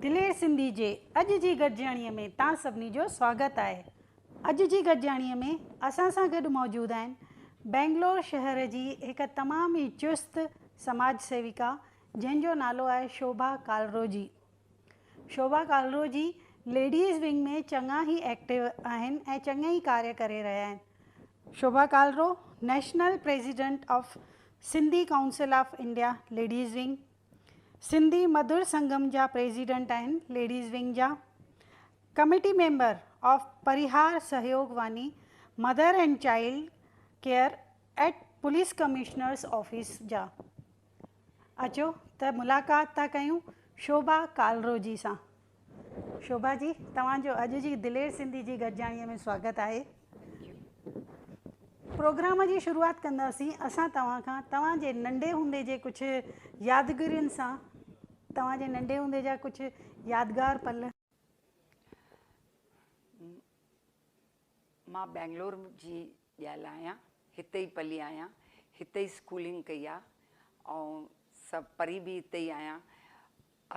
دلير سنڌي جي اڄ جي گڏجاڻيء ۾ تان سڀني جو سواگت آهي. اڄ جي گڏجاڻيء ۾ اسان سان گڏ موجود آهن بئنگلور شهر جي هڪ تمام ئي چست سماج سيوڪا جنهن جو نالو آهي شوڀا ڪالروجي. شوڀا ڪالروجي ليڊيز ونگ ۾ چڱا ئي ايڪٽو آهن ۽ چڱي ئي ڪاري ڪري رهيا آهن. Shobha Kalro national president of Sindhi council of India ladies wing, Sindhi Madhur Sangam جا پريزيڊنٽ آهن ليڊيز ونگ جا، committee member of Parihar Sahyog Vani mother and child care at police commissioner's office جا، اچو ته ملاقات ٿا ڪيون شوڀا ڪالرو جي سان. شوڀا جي توهان جو اڄ جي دلير سنڌي جي گڏجاڻيء ۾ سواگت آهي. پروگرام جي شروعات ڪنداسين اسان توهان کان توهان جي ننڍي هوندي جي ڪجهه يادگرين سان توهان جي ننڍي هوندي جا ڪجهه يادگار پل. مان بئنگلور جي ڄل آهيان هتي ئي پلي آهيان هتي ئي اسڪولنگ ڪئي آهي ۽ سڀ پڙهي به هتي ئي آهيان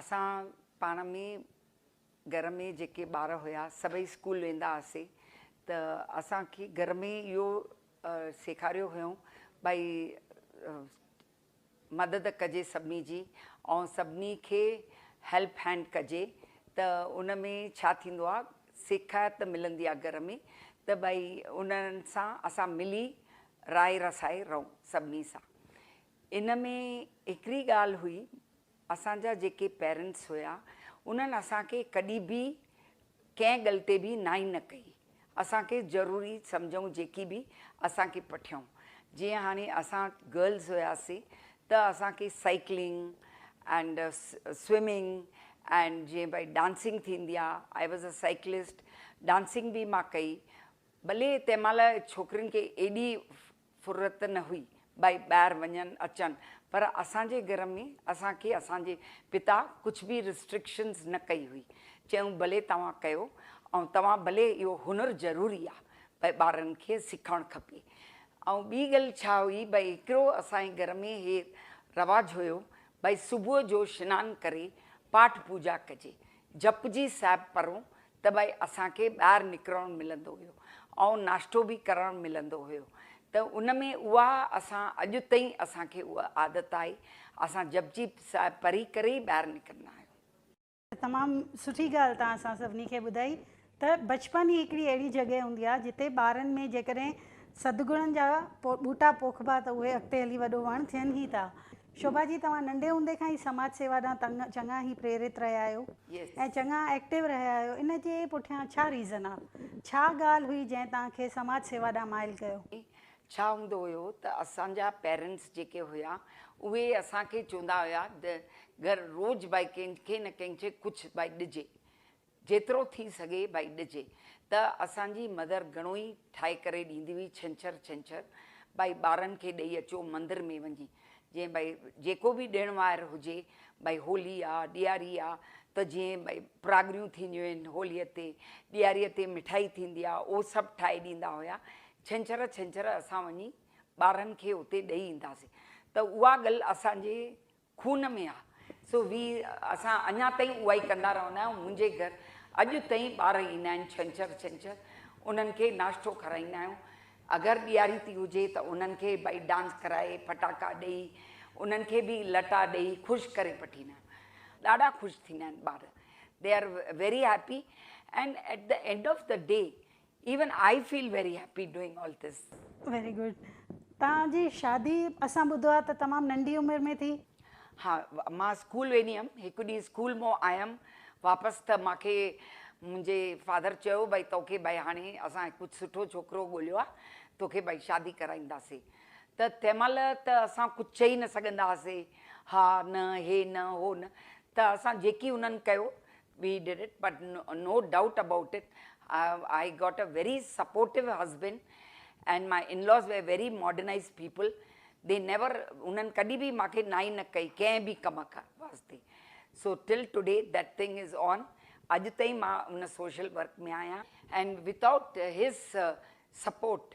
اسان پاڻ ۾ گهر ۾ جيڪي ٻار هيا سڀئي اسڪول ويندا هئاسي ته اسان کي گهر ۾ اهو سيکاريو هيون ڀائي مدد ڪجي سڀني جي ۽ سڀني کي هيلپ هينڊ ڪجي ته ان ۾ ڇا ٿيندو آ سيکائت ملندي آ گهر ۾ ته ڀائي انهن سان اسان ملي راء رسائي رهون سڀني سان ان ۾ هڪڙي ڳالهه هئي اسان جا جيڪي پيرنٽس هيا انهن اسان کي ڪڏي به ڪنهن ڳل تي به نائي نه ڪئي اسان کي ضروري سمجهئون جيڪي به اسان کي پٺيئون جيئن هاڻي اسان گرلز هياسي ته اسان کي سائيڪلنگ اينڊ سوئمنگ اينڊ جيئن بھاء ڊانسنگ ٿيندي آ I was a cyclist dancing به مان ڪئي ڀلي تنهن مهل ڇوڪرين کي ايڏي فرت نه هئي ٻئي ٻاهر وڃن اچن پر اسان جي گهر ۾ اسان کي اسان جي پتا ڪجهه به رسٽرڪشنز نه ڪئي هئي چيائون ڀلي توهان ڪيو ۽ توهان ڀلي اهو هنر ضروري آ ڀئي ٻارن کي سکڻ کپي ۽ ٻي ڳل ڇا هئي ڀئي هڪڙو اسان جي گهر ۾ هي رواج هيو ڀئي صبح جو شنان ڪري پاٺ پوجا ڪجي جپجي صاحب پرون ته ڀائي اسان کي ٻاهر نڪرڻ ملندو هيو ۽ ناشتو به ڪرڻ ملندو هيو ته ان ۾ اها اسان اڄ تائين اسان کي اها عادت آهي اسان جپجي صاحب پڙهي ڪري ئي ٻاهر نڪرندا آهيون. تمام سٺي ڳالهه توهان اسان سڀني کي ٻڌائي ته بچپن ئي هڪڙي اهڙي جڳهه هوندي آهي جتي ٻارن ۾ جيڪڏهن سدگڻن جا ٻوٽا پوکبا ته اهي اڳتي هلي وڏو وڻ ٿين ئي ٿا. شوڀا جي توهان ننڍي هوندي کان ئي سماج سيوا ڏانهن چڱا هي پريرت رهيا آهيو ۽ چڱا ايڪٽيو رهيا آهيو ان جي پٺيان ڇا ريزن آ؟ ڇا ڳالهه هئي جنهن توهان کي سماج سيوا ڏانهن مائل ڪيو؟ ڇا هوندو هيو ته اسان جا پيرنٽس جيڪي هيا اهي اسان کي چوندا هيا ته گهر روز ڀائي ڪنهن کي نه ڪنهن کي ڪجهه ڀائي ڏجي جيترو ٿي سگهي ڀائي ڏجي ته اسان جي مدر گهڻو ئي ٺاهي ڪري ڏيندي هئي ڇنڇر ڇنڇر ڀائي ٻارن کي ڏئي اچو مندر ۾ وڃي جئين ڀائي جيڪو به ڏڻ واهر هجي ڀائي هولي آ ڏياري آ ته جئين ڀائي پراڳريون ٿينديون آهن هولي تي ڏياري تي مٺائي ٿيندي آ اهو سڀ ٺاهي ڏيندا هيا ڇنڇر ڇنڇر اسان وڃي ٻارن کي اتي ڏئي اينداسين ته اها ڳل اسان جي خون ۾ آ سو وي اسان اڃا تائين اهائي ڪندا رهندا آهيون منهنجي گهر اڄ تائين ٻار ايندا آهن ڇنڇر ڇنڇر انهن کي ناشتو کارائيندا آهيون اگر ڏياري ٿي هجي ته انهن کي ڀائي ڊانس ڪرائي ڦٽاڪا ڏئي انهن کي به لٽا ڏئي خوش ڪري پٺيندا آهيون ڏاڍا خوش ٿيندا آهن ٻار they are very happy and at the end of the day Even I feel very happy doing all this. Very good. توهان جي شادي اسان ٻڌو آهي ته تمام ننڍي عمر ۾ ٿي. ها مان اسڪول ويندي هيم هڪ ڏينهن اسڪول مون آيم واپس ته مان کي منهنجي فادر چيو بھي توکي بھي هاڻي اسان ڪجھ سٺو ڇوڪرو ڳوليو آ توکي بھي شادي ڪرائينداسين ته تنهن مهل ته اسان ڪجھ چئي نه سگهندا هئاسي ها نه هي نه هو نه ته اسان جيڪي انهن ڪيو we did it but no doubt about it I got a very supportive husband and my in laws were very modernise people they never انهن ڪڏهن به مان کي نائي نه ڪئي ڪنهن به ڪم واسطي so till today that thing is on اڄ تائين مان ان سوشل ورڪ ۾ آهيان and without his support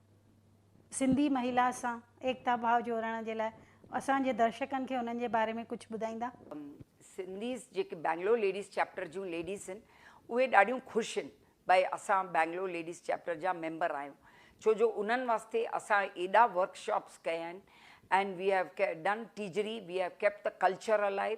Sindhi Mahila سان ايڪتا ڀاء جوڙڻ جي لاء اسان جي درشڪن کي انهن جي باري ۾ ڪجهه ٻڌائيندا؟ سنڌيز جيڪي بئنگلور ليڊيز چيپٽر جون ليڊيز هن اهي ڏاڍيون خوش هن بئي اسان بئنگلور ليڊيز چيپٽر جا ميمبر آهيون ڇو جو انهن واسطي اسان ايڏا ورڪ شاپس ڪيا هن اينڊ وي هيو ڪي done Tijri we have kept the culture alive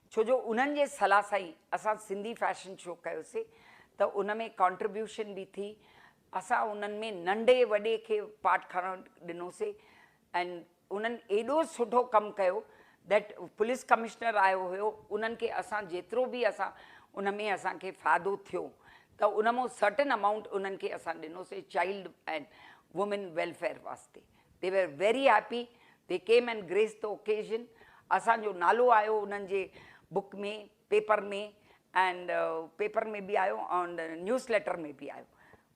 ڇو جو انهن جي صلاح سان ئي اسان سنڌي فيشن شو ڪيوسي ته ان ۾ ڪانٽريبيوشن به ٿي اسان انهن ۾ ننڍي وڏي کي پارٽ کڻڻ ڏنوسي ۽ انهن ايڏو سٺو ڪم ڪيو ڌيٽ پوليس ڪمشنر آيو هيو انهن کي اسان جيترو به اسان ان ۾ اسان کي فائدو ٿيو ته ان مون سرٽن امائونٽ انهن کي اسان ڏنوسي چائلڊ ۽ وومين ويلفيئر واسطي They were very happy. They came and graced the occasion. اسان جو نالو آيو انهن جي بوڪ ۾ پيپر ۾ and پيپر ۾ به آيو and نيوز ليٽر ۾ به آيو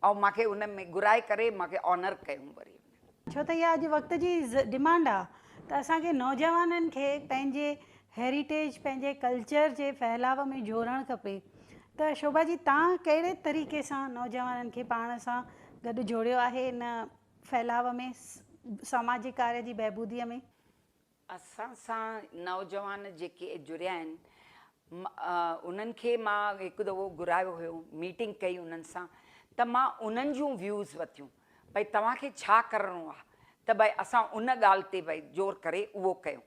۽ مان کي ان ۾ گهرائي ڪري مان کي آنر ڪيون وري انهن. ڇو ته اها اڄ وقت جي ڊمانڊ آ ته اسان کي نوجوانن کي پنهنجي هيريٽيج پنهنجي ڪلچر جي ڦهلاء ۾ جوڙڻ کپي ته شوڀا جي تان ڪهڙي طريقي سان نوجوانن کي پاڻ سان گڏ جوڙيو آهي ان ڦهلاء ۾، سماجي ڪارج جي بهبوديء ۾. اسان سان نوجوان جيڪي جڙيا آهن، انهن کي مان هڪ دفعو گهرايو هيو، ميٽنگ ڪئي انهن سان ته مان انهن جون ويوز وتيون ڀئي توهان کي ڇا ڪرڻو آهي ته ڀئي اسان ان ڳالهه تي ڀئي زور ڪري اهو ڪيون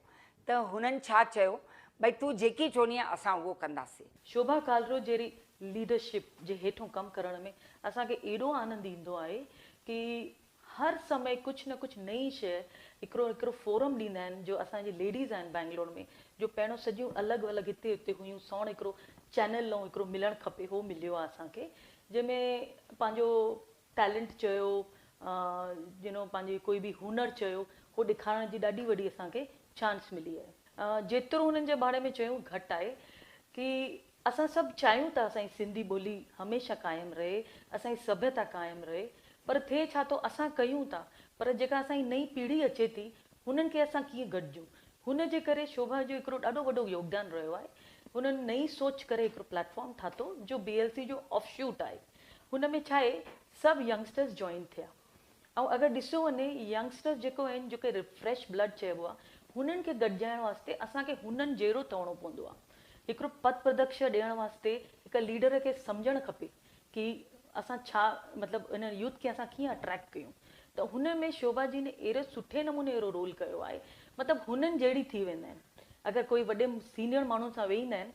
ته هنن ڇا چيو؟ ڀئي تون جيڪي چوندينء اسان اهو ڪنداسين. شوڀا ڪالرو جهڙي ليڊرشپ جي هيٺون ڪم ڪرڻ ۾ اسان کي ايڏو آنند ايندو آهي ڪي هر سمي ڪجهه نه ڪجهه نئين شيء هڪڙو هڪڙو فورم ڏيندا آهن جو اسان جي ليڊيز آهن بئنگلور ۾ جو پهريون سڄيون الڳ ولڳ هتي اتي هيون سوڻ هڪڙو چينل نئون هڪڙو ملڻ کپي هو مليو آهي اسان کي جنهن ۾ پنهنجو ٽيلنٽ چيو جنهن پنهنجي ڪوئي به هنر چيو هو ڏيکارڻ جي ڏاڍي وڏي اسان کي چانس ملي آهي جيترو هنن جي ڀاڙي ۾ چيون گهٽ آهي ڪي اسان سڀ چاهيون ته اسان جي سنڌي ٻولي هميشه قائم رهي اسان جي سڀيتا قائم رهي پر ٿئي ڇا ٿو اسان ڪيون ٿا پر جيڪا اسان جي نئين پيڙهي اچي ٿي هنن کي اسان ڪيئن گڏجون هن جي ڪري شوڀا جو هڪڙو ڏاڍو وڏو يوگدان رهيو آهي هنن نئين سوچ ڪري هڪڙو پليٽ فارم ٺاهتو جو بي ايل سي جو آف شوٽ آهي. هن ۾ ڇا آهي سڀ ينگسٽرز جوائن ٿيا ۽ اگر ڏسيو وڃي ينگسٽرز جيڪو آهن جو ڪي فريش بلڊ چئبو آهي هنن کي گڏجائڻ واسطي اسان کي هنن جهڙو ٿئڻو پوندو آهي هڪڙو پٿ پردڪشه ڏيڻ واسطي هڪ ليڊر کي سمجهڻ کپي ڪي اسان ڇا مطلب هن يوٿ کي اسان ڪيئن اٽريڪٽ ڪيون ته هن ۾ شوڀا جي ني اهڙو سٺي نموني اهڙو رول ڪيو آهي مطلب هنن جهڙي ٿي ويندا آهن اگر ڪوئي وڏي سينيئر ماڻهن سان ويهندا آهن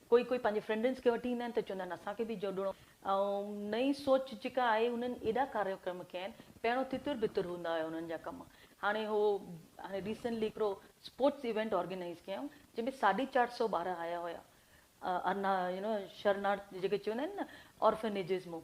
ڪوئي ڪوئي پنهنجي فرينڊنس کي وٺي ايندا آهن ته چوندا آهن اسان کي به جوڙڻو ۽ نئين سوچ جيڪا آهي انهن ايڏا ڪاريڪرم ڪيا آهن پهريون تتر بتر هوندا هيا انهن جا ڪم هاڻي هو هاڻي ريسينٽلي هڪڙو اسپورٽس ايونٽ آرگنائيز ڪيائون جنهن ۾ ساڍي چار سئو ٻار آيا هيا ارنا يو نو شرنارٿ جيڪي چوندا آهن نه آرفنيجز مون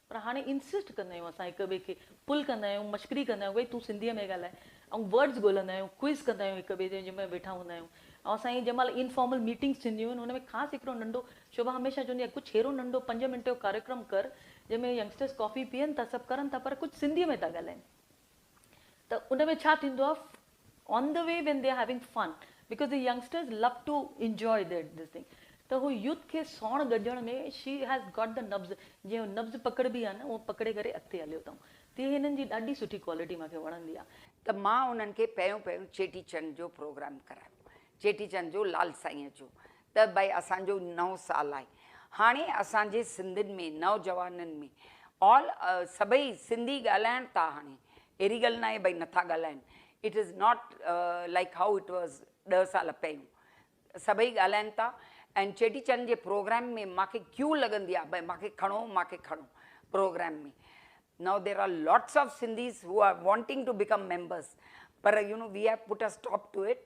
پر هاڻي انسسٽ ڪندا آهيون اسان هڪ ٻئي کي پل ڪندا آهيون مشڪري ڪندا آهيون ڀئي تون سنڌيء ۾ ڳالهاء ۽ ورڊز ڳولهندا آهيون ڪوئز ڪندا آهيون هڪ ٻئي جي جنهن ۾ ويٺا هوندا آهيون ۽ اسان جي جنهن مهل انفارمل ميٽنگس ٿينديون آهن ان ۾ خاص هڪڙو ننڍو شوڀا هميشه چوندي آهي ڪجهه اهڙو ننڍو پنج منٽ جو ڪاريڪرم ڪر جنهن ۾ ينگسٽرز ڪافي پيئن ٿا سڀ ڪرن ٿا پر ڪجهه سنڌيء ۾ ٿا ڳالهائين. ته ان ۾ ڇا ٿيندو آهي on the way when they are having fun because the youngsters love to enjoy their this thing ته هو يوٿ کي ساڻ گڏجڻ ۾ شي هيز گاٽ دي نبض جيئن نبض پڪڙبي آهي نه اونئن پڪڙي ڪري اڳتي هليو اٿئون تي هنن جي ڏاڍي سٺي ڪوالٽي مان کي وڻندي آهي. ته مان انهن کي پهريون پهريون چيٽي چنڊ جو پروگرام ڪرايو چيٽي چنڊ جو لال سائينء جو ته بھي اسان جو نئون سال آھي ھاڻي اسان جي سنڌين ۾ نوجوانن ۾ آل سڀئي سنڌي ڳالھائڻ ٿا ھاڻي اھڙي ڳالھ ناھي بھي نٿا ڳالھائين it is not like how it was ڏھ سال پھريون سڀئي ڳالھائين ٿا اينڊ چيٽي چنڊ جي پروگرام ۾ ماکي ڪيو لڳندي آھي بھي ماکي کڻو ماکي کڻو programme ۾ now there are lots of Sindhis who are wanting to become members پر you know we have put a stop to it.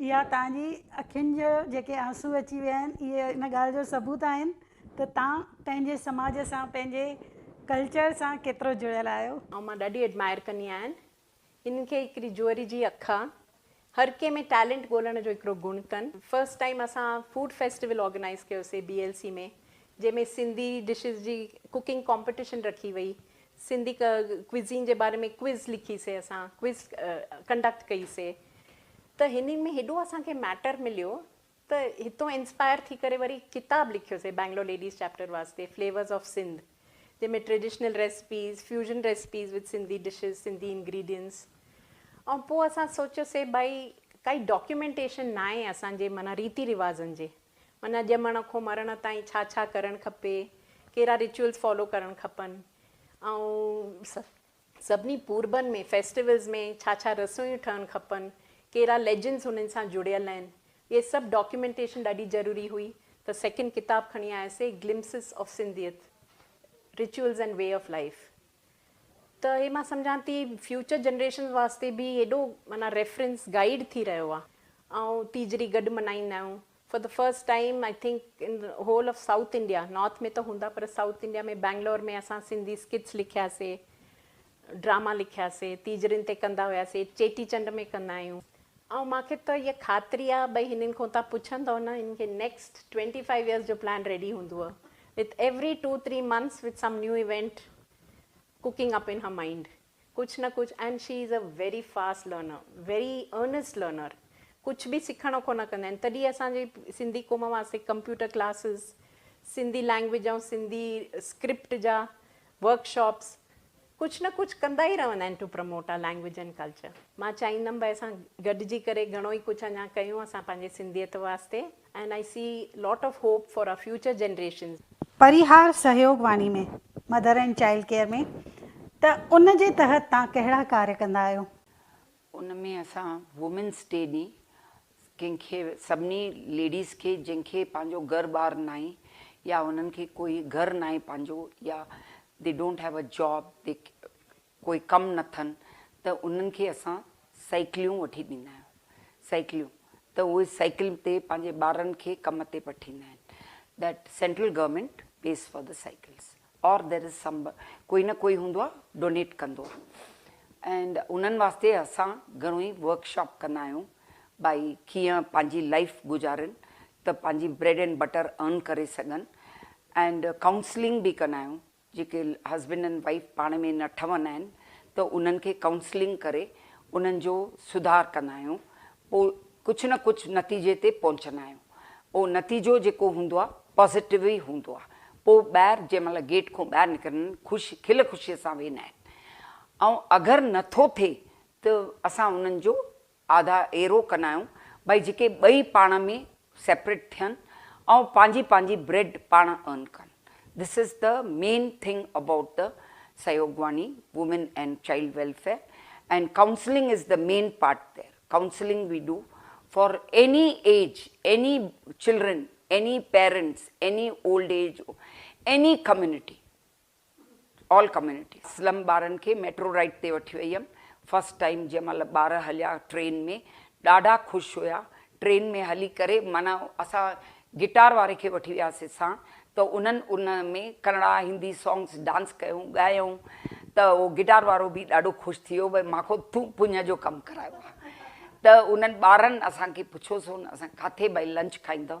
اها توهان جي اکين جا جيڪي آنسو اچي ويا آهن اهي ان ڳالهه جو ثبوت آهن ته توهان پنهنجي سماج سان پنهنجي ڪلچر سان ڪيترو جڙيل آهيو. آئون مان ڏاڍي ايڊمائر ڪندي آهن هن کي هڪڙي جوئري جي اک آ هر ڪنهن ۾ ٽيلنٽ ڳولڻ جو هڪڙو گڻ تن. فرسٽ ٽائيم اسان فوڊ فيسٽيول آرگنائيز ڪيو سي بي ايل سي ۾ جنهن ۾ سنڌي ڊشز جي ڪوڪنگ ڪامپيٽيشن رکي وئي سنڌي ڪوزين جي باري ۾ ڪوئز لکي سي اسان ڪوئز ڪنڊڪٽ ڪئي سي ته هنن ۾ هيڏو اسان کي ميٽر مليو ته هتو انسپائر ٿي ڪري وري ڪتاب لکيو سي بينگلور ليڊيز چيپٽر واسطي فليورز آف سنڌ جنهن ۾ traditional recipes fusion recipes with Sindhi dishes Sindhi ingredients ۽ پوء اسان سوچيو سي ڀائي ڪائي ڊاڪيومينٽيشن ناهي اسان جي معنيٰ ريتي رواجن جي معنيٰ ڄمڻ کون مرڻ تائين ڇا ڇا ڪرڻ کپي، ڪهڙا ريچوئلز فالو ڪرڻ کپن ۽ سڀني پوربن ۾ فيسٽيولز ۾ ڇا ڇا رسويون ٺهڻ کپن، ڪهڙا ليجنڊز هنن سان جڙيل آهن، اهي سڀ ڊاڪيومينٽيشن ڏاڍي ضروري هئي ته سيڪنڊ ڪتاب کڻي آياسي glimpses of Sindhiyat, rituals and way of life. ته هي مان سمجهان ٿي فيوچر جنريشنز واسطي به ايڏو معنيٰ ريفرنس گائيڊ ٿي رهيو آهي. آئون تيجڙي گڏ ملهائيندا آهيون for the first time I think in whole of South India north ۾ ته هوندا پر سائوٿ انڊيا ۾ بئنگلور ۾ اسان سنڌي اسڪٽس لکياسي ڊراما لکياسي تيجڙين تي ڪندا هياسي چيٽي چنڊ ۾ ڪندا آهيون آئون مان کي ته اها خاطري آهي ڀئي هنن کان تهان پڇندؤ نه هنن کي نيڪسٽ ٽوئنٽي فائيو ايئرس جو پلان ريڊي هوندوء with every two three months with some new event cooking up in her mind ڪجهه نه ڪجهه and she is a very fast learner very earnest learner ڪجهه به سکڻ کان نه ڪندا آهن تڏهن اسان جي سنڌي قوم واسطي computer classes Sindhi language ۽ Sindhi script جا ورڪ شاپس ڪجهه نه ڪجهه ڪندا ئي رهندا آهن to promote our language and culture. مان چاهيندم ڀاء اسان گڏجي ڪري گهڻو ئي ڪجهه اڃا ڪيون اسان پنهنجي سنڌيت واسطي and I see lot of hope for our future generations. Parihar Sahyog Vani ۾ mother and child care ۾ ته ان جي تحت تان ڪهڙا ڪاري ڪندا آهيو. ان ۾ اسان وومينس ڊي ڏينهن ڪنهن کي سڀني ليڊيز کي جنهن کي پنهنجو گهر ٻار ناهي يا انهن کي ڪوئي گهر ناهي پنهنجو يا they don't have a job they ڪوئي ڪم نه ٿن ته انهن کي اسان سائيڪليون وٺي ڏيندا آهيون سائيڪليون ته اهي سائيڪل تي پنهنجي ٻارن کي ڪم تي پٺيندا آهن that central government pays for the cycles. Or دير از سم ڪوئي نه ڪوئي هوندو آ ڊونيٽ ڪندو آ اينڊ انهن واسطي اسان گهڻو ئي ورڪ شاپ ڪندا آهيون ڀائي ڪيئن پنهنجي لائيف گذارين ته پنهنجي بريڊ اينڊ بٽر ارن ڪري سگهن اينڊ ڪائونسلنگ به ڪندا آهيون جيڪي هسبينڊ اينڊ وائيف پاڻ ۾ نه ٺهندا آهن ته انهن کي ڪائونسلنگ ڪري انهن جو سڌار ڪندا آهيون پوء ڪجهه نه ڪجهه نتيجي تي پهچندا آهيون. اهو نتيجو جيڪو هوندو آهي پازيٽو ئي هوندو آهي. پوء ٻاهر جنهن مهل گيٽ کان ٻاهر نڪرن خوش کل خوشيء سان ويهندا آهن. ۽ اگر نه ٿو ٿئي ته اسان انهن جو آڌا ايرو ڪندا آهيون. ڀائي جيڪي ٻئي پاڻ ۾ سيپريٽ ٿين ۽ پنهنجي پنهنجي بريڊ پاڻ ارن ڪن this is the main thing about the Sahyogvani women and child welfare and counselling is the main part there counselling we do for any age any children any parents any old age any community. All community Aslam ٻارن کي metro ride تي وٺي وئي ھيم first time جنھن مھل ٻار ھليا train ۾ ڏاڍا خوش ھيا ٽرين ۾ ھلي ڪري معنيٰ اسان گٽار واري کي وٺي وياسي سان ته انھن ان ۾ ڪنڙا ھندي سانگس ڊانس ڪيون ڳايائون ته اھو گٽار وارو به ڏاڍو خوش ٿي ويو ڀئي مانکو تون پڃ جو ڪم ڪرايو آ ته انھن ٻارن اسان کي پڇيو سون اسان ڪاٿي ڀئي لنچ کائيندؤ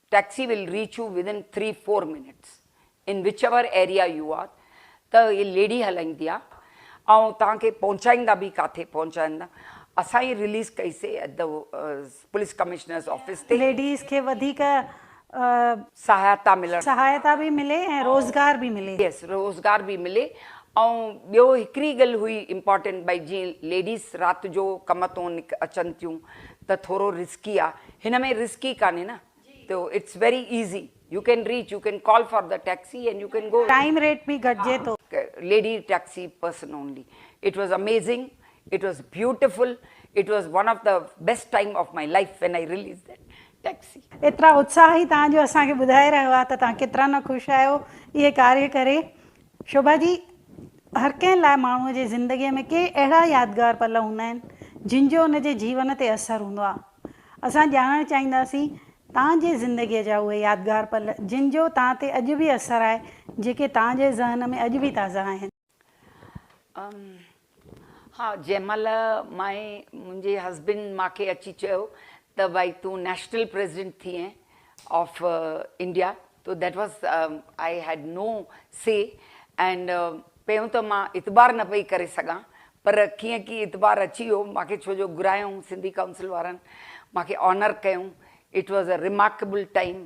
Taxi will reach you within three four minutes in whichever area you are ته هي ليڊي هلائيندي آ ۽ توهان کي پهچائيندا به ڪاٿي پهچائيندا اسان هي رليز ڪئي سي at the police commissioner's office تي. ليڊيز کي وڌيڪ. سهائتا ملڻ. سهائتا به ملي ۽ روزگار به ملي. Yes روزگار به ملي ۽ ٻيو هڪڙي ڳل هئي امپارٽينٽ ڀئي جيئن ليڊيز رات جو ڪم تون اچن ٿيون ته ٿورو رسڪي آ هن ۾ رسڪي ڪانهي نه تو it's very easy you can reach you can call for the taxi and you can go. Time rate به گهٽجي ٿو. Lady taxi person only it was amazing it was beautiful it was one of the best time of my life when I release that taxi. ايترا اتساهي توهان جو اسان کي ٻڌائي رهيو آ ته توهان ڪيترا نه خوش آهيو اهي ڪاري ڪري شوڀا جي، هر ڪنهن لاء ماڻهوء جي زندگيء ۾ ڪي اهڙا يادگار پل هوندا آهن، جن جو ان جي جيون تي اثر هوندو آهي. اسان ڄاڻڻ چاهينداسين توهان جي زندگيء جا اهي يادگار پل، جن جو توهان تي اڄ به اثر آهي، جيڪي توهان جي ذهن ۾ اڄ به تازا آهن. ها جنهن مهل مائي منهنجي هسبنڊ مان کي اچي چيو ته بائي تون نيشنل پريزيڊنٽ ٿئين آف انڊيا تو that was I had no سي اينڊ پهريون ته مان اعتبار نه پئي ڪري سگهان پر ڪيئن ڪي اعتبار اچي ويو مان کي ڇو جو گهرايائون سنڌي ڪائونسل وارن مان کي آنر ڪيائون it was a remarkable time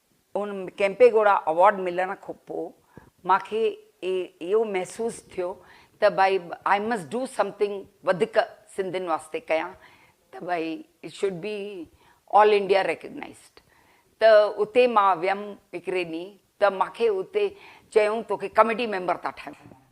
in Kempegowda award ملڻ کان پوء مان کي اهو محسوس ٿيو ته ڀائي آء مسٽ ڊو سمٿنگ وڌيڪ سنڌين واسطي ڪيان ته ڀائي it should be all India recognised ته اتي مان ويم هڪڙي ڏينهن ته مان کي اتي چيائون توکي ڪميٽي ميمبر ٿا ٺاهيون.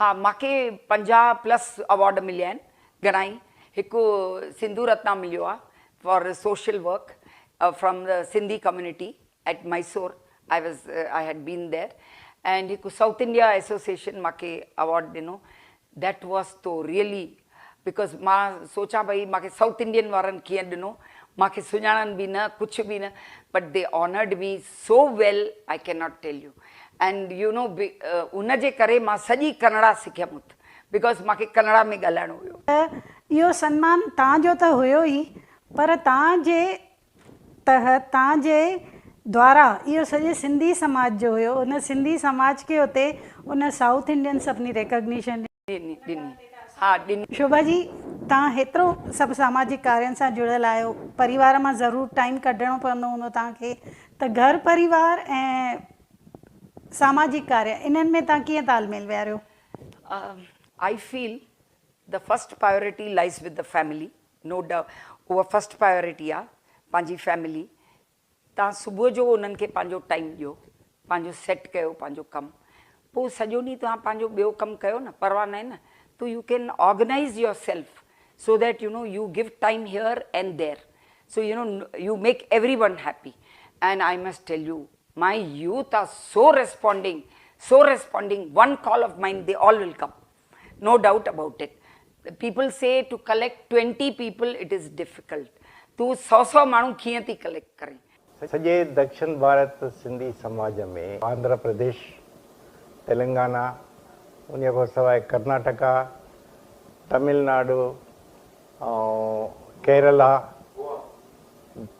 ها ماکي پنجاهه پلس اوارڊ مليا آهن گهڻائي هڪ سنڌو رتنا مليو آهي for social work from the Sindhi community at Mysore I was I had been there and هڪ سائوٿ انڊيا ايسوسيئشن ماکي اوارڊ ڏنو ديٽ واز تو ريئلي بيڪاز مان سوچان پئي مان کي سائوٿ انڊين وارن ڪيئن ڏنو مان کي سڃاڻن به نه ڪڇ به نه but they honoured me so well I can not tell you and you know ان جي ڪري مان سڄي ڪنڙا سکيم ات بيڪاز مان کي ڪنڙا ۾ ڳالهائڻو هيو. ته اهو سنمان توهان جو ته هيو ئي پر توهان جي تحت توهان جي دوارا اهو سڄي سنڌي سماج جو هيو ان سنڌي سماج کي اتي ان سائوٿ انڊين سڀني ريڪگنيشن ڏني. ڏني. ها ڏني. شوڀا جي توهان هيترو سڀ ساماجڪ ڪارين سان جڙيل آهيو پريوار مان ضرور ٽائيم ڪڍڻو پوندو هوندو توهان کي ته گهر پريوار ۽ ساماجڪ ڪاري انهن ۾ توهان ڪيئن تال ميل ويهاريو؟ I feel the first priority lies with the family no doubt اها فرسٽ پائيورٽي آهي پنهنجي فيملي توهان صبح جو انهن کي پنهنجو ٽائيم ڏيو، پنهنجو سيٽ ڪيو پنهنجو ڪم، پوء سڄو ڏينهن توهان پنهنجو ٻيو ڪم ڪيو نه پرواهه ناهي نه تو you can organise yourself so that you know you give time here and there so you know you make everyone happy and I must tell you my youth are so responding so responding one call of mine they all will come no doubt about it people see to collect twenty people it is difficult تون سؤ سؤ ماڻهو ڪيئن ٿي collect ڪرين. سڄي دڪشن ڀارت سنڌي سماج ۾ آنڌرا پرديش، تلنگانا انهي کان سواء ڪرناٽڪا، تمل ناڊو ۽ ڪيرلا،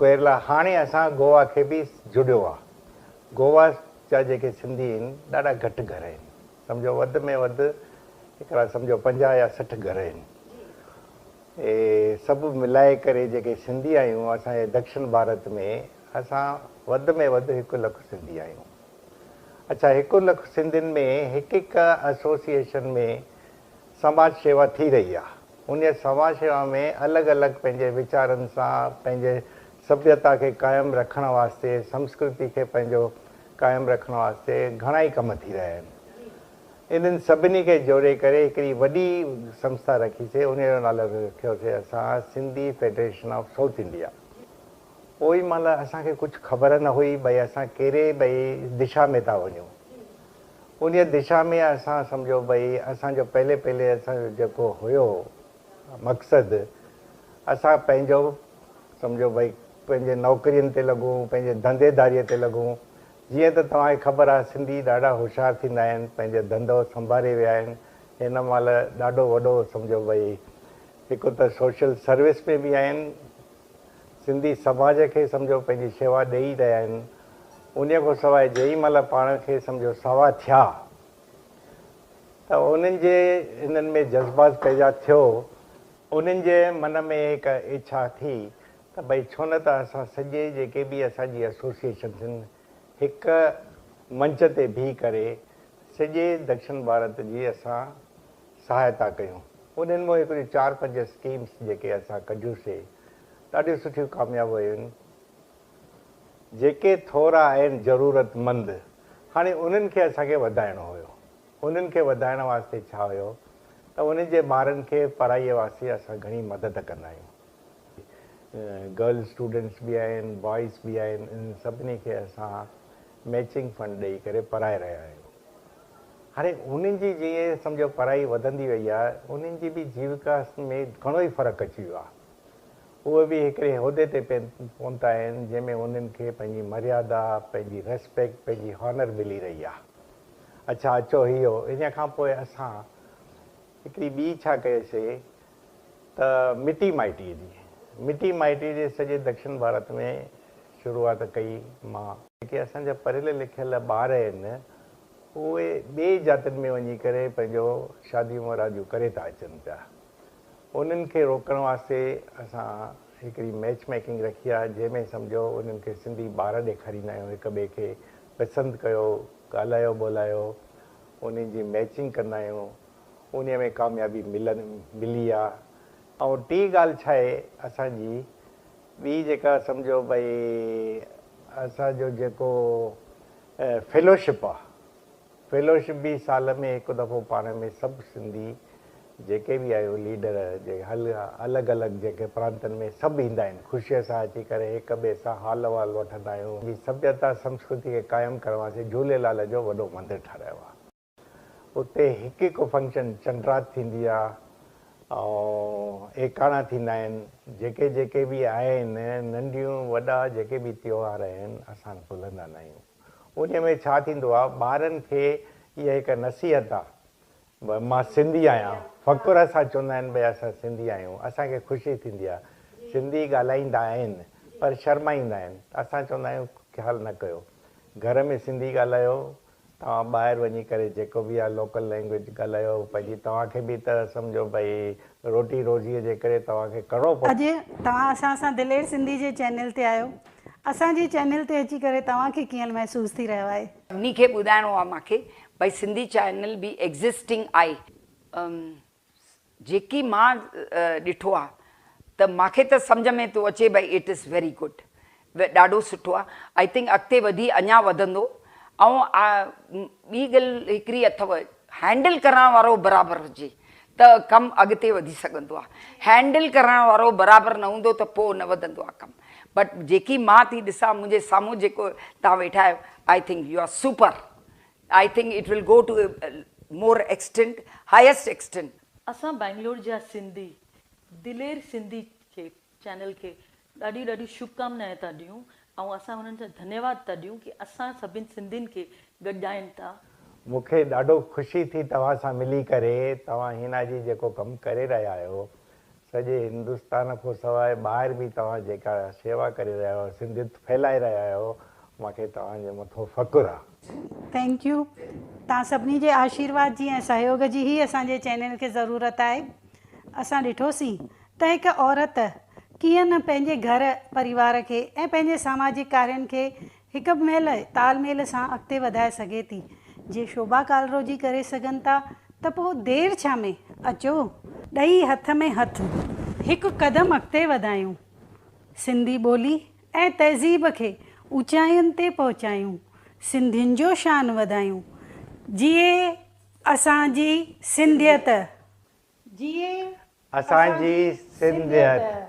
ڪيرلا هاڻي اسان گوا کي به جڙيو آ. گوا جا جيڪي سنڌي آهن ڏاڍا گهٽ گهر آهن. سمجهو وڌ ۾ وڌ هڪڙا سمجهو پنجاهه يا سٺ گهر آهن. اهي سڀ ملائي ڪري جيڪي سنڌي آهيون اسان جي دڪشن ڀارت ۾ اسان وڌ ۾ وڌ هڪ لک سنڌي آهيون. اڇا هڪ لک سنڌين ۾ هڪ هڪ ايسوسيئيشن ۾ سماج شيوا ٿي رهي آهي. انهي سماج شيوا ۾ الڳ الڳ پنهنجي ويچارن سان پنهنجي سڀيتا کي قائم رکڻ واسطي سمسڪرتي کي پنهنجو قائم رکڻ واسطي گهڻائي ڪم ٿي رهيا آهن. انهن سڀني کي جوڙي ڪري هڪڙي وڏي سنسٿا رکيسي انهيء جو نالو رکيوسي اسان Sindhi federation of South India. اوهين مهل اسان کي ڪجهه خبر نه هئي ڀئي اسان ڪهڙي ڀئي دشا ۾ ٿا وڃون. انهيء دشا ۾ اسان سمجهو ڀئي اسان جو پهلي پهلي اسان جو جيڪو هيو. مقصد اسان پنهنجو سمجهو ڀئي پنهنجي نوڪرين تي لڳون پنهنجي ڌنڌي ڌاري تي لڳون جيئن ته توهان کي خبر آهي سنڌي ڏاڍا هوشيار ٿيندا آهن پنهنجو ڌنڌو سنڀاري ويا آهن هن مهل ڏاڍو وڏو سمجهو ڀئي هڪ ته سوشل سروس ۾ به آهن سنڌي سماج کي سمجهو پنهنجي شيوا ڏئي رهيا آهن انهي کان سواء جئين مهل پاڻ کي سمجهو سوا ٿيا ته انهن جي انهن ۾ جذبات پيدا ٿيو، انهن جي من ۾ هڪ اڇا ٿي ته ڀئي ڇو نه ته اسان سڄي جيڪي به اسان جي ايسوسيئيشنز هن هڪ منچ تي بيهي ڪري سڄي دڪشن ڀارت جي اسان سهائتا ڪيون، انهن مون هڪڙيون چار پنج اسڪيمز جيڪي اسان ڪڍيون سي ڏاڍيون سٺيون ڪامياب ويون. جيڪي ٿورا آهن ضرورت مند هاڻي انهن کي اسان کي وڌائڻو هيو انهن کي وڌائڻ واسطي ڇا هيو ته انهن جي ٻارن کي پڙهائي واسطي اسان گهڻي مدد ڪندا آهيون گرل اسٽوڊنٽس به آهن بوائز به آهن انهن سڀني کي اسان ميچنگ فنڊ ڏئي ڪري پڙهائي رهيا آهيون هاڻي انهن جي جيئن سمجهو پڙهائي وڌندي وئي آهي انهن جي به جيوڪا ۾ گهڻو ئي فرق اچي ويو آهي اهي به هڪڙي عهدي تي پهتا آهن جنهن ۾ انهن کي پنهنجي مريادا، پنهنجي ريسپيڪٽ، پنهنجي هانر ملي رهي آهي. اڇا اچو هيو ان کان پوء اسان هڪڙي ٻي ڇا ڪيوسي ته مٽي مائٽي جي مٽي مائٽي جي سڄي دڪشن ڀارت ۾ شروعات ڪئي مان. جيڪي اسان جا پڙهيل لکيل ٻار آهن اهي ٻئي جاتين ۾ وڃي ڪري پنهنجو شاديون مراديون ڪري ٿا اچن پيا. انهن کي روڪڻ واسطي اسان هڪڙي ميچ ميڪنگ رکي آهي جنهن ۾ سمجهو انهن کي سنڌي ٻار ڏيکاريندا آهيون هڪ ٻئي کي پسند ڪيو ڳالهايو ٻولهايو انهن جي ميچنگ ڪندا آهيون انهي ۾ ڪاميابي ملن ملي آهي ۽ ٽي ڳالهه ڇا آهي اسان جي ٻي جيڪا سمجهو ڀئي اسان جو جيڪو فيلوشپ آهي فيلوشپ به سال ۾ هڪ دفعو پاڻ ۾ سڀ سنڌي جيڪي به آهيون ليڊر جي هل الڳ الڳ جيڪي پرانتن ۾ سڀ ايندا آهن خوشي سان اچي ڪري هڪ ٻئي سان حال احوال وٺندا آهيون پنهنجي سڀيتا سنسڪرتي کي قائم ڪرڻ واسطي جهوليلال جو وڏو مندر ٺهرايو آهي اتي هڪ هڪ فنڪشن چنڊرات ٿيندي آهي ۽ ايڪاڻا ٿيندا آهن جيڪي جيڪي به آهن ننڍيون وڏا جيڪي به تيوهار آهن اسان ڀلندا ناهيون. انهي ۾ ڇا ٿيندو آ ٻارن کي اها هڪ نصيحت آ ڀئي مان سنڌي آهيان فخر سان چوندا آهن ڀئي اسان سنڌي آهيون اسان کي خوشي ٿيندي آ سنڌي ڳالهائيندا آهن پر شرمائيندا آهن ته اسان چوندا آهيون خيال نه ڪيو گهر ۾ سنڌي ڳالهايو توهان ٻاهر وڃي ڪري جيڪو به آ لوڪل لينگويج ڳالهايو پنهنجي توهان کي به ته سمجهو ڀئي روٽي روزي جي ڪري توهان کي ڪرڻو پوندو. اڄ توهان اسان سان دلير سنڌي جي چينل تي آهيو اسان جي چينل تي اچي ڪري توهان کي ڪيئن محسوس ٿي رهيو آهي. سڀني کي ٻڌائڻو آ مانکي بھي سنڌي چينل به ايگزسٽنگ آھي. ام جيڪي مان ڏٺو آ ته مانکي ته سمجھ ۾ ٿو اچي بھي اٽ از ويري گڊ ڏاڍو سٺو آ آئي ٿنڪ اڳتي وڌي اڃا وڌندو ائون آ ٻي ڳل ھڪڙي اٿو هينڊل ڪرڻ وارو برابر هجي ته ڪم اڳتي وڌي سگهندو آهي هينڊل ڪرڻ وارو برابر نه هوندو ته پوء نه وڌندو آهي ڪم بٽ جيڪي مان ٿي ڏسان منهنجي سامهون جيڪو توهان ويٺا آهيو I think you are super I think it will go to more extent highest extent. اسان بئنگلور جا سنڌي دلير سنڌي کي چينل کي ڏاڍيون ڏاڍيون شڀڪامنائن ٿا ڏيون ۽ اسان انهن جا ڌنيواد ٿا ڏيون ڪي اسان سڀني سنڌين کي گڏجائين ٿا. مونکي ڏاڍو خوشي ٿي توهان سان ملي ڪري توهان حنا جي جيڪو ڪم ڪري رهيا آهيو سڄي هندستان کون سواء ٻاهر به توهان جيڪا شيوا ڪري رهيا آهيو سنڌيت ڦهلائي رهيا آهيو مونکي توهان جي مٿو فخر آ. ٿينڪ يو توهان سڀني جي آشيرواد جي ۽ سهيوگ جي هي اسان جي چينل کي ضرورت آهي اسان ڏٺوسين ته هڪ عورت ڪيئن نه پنهنجي گهر پريوار کي ۽ پنهنجي ساماجڪ ڪارين کي هڪ به مهل تال ميل سان اڳتي وڌائي سگهي ٿي. جي شعبا ڪالرو جي ڪري سگهن ٿا ته پوء دير ڇا ۾، اچو! ڏئي هٿ ۾ هٿ هڪ قدم اڳتي وڌايون، سنڌي ٻولي ۽ تهذيب کي اوچاين تي پهچايون، سنڌين جو شان وڌايون. جيئي اسان جي سنڌيت جيئي اسان جي سنڌيت.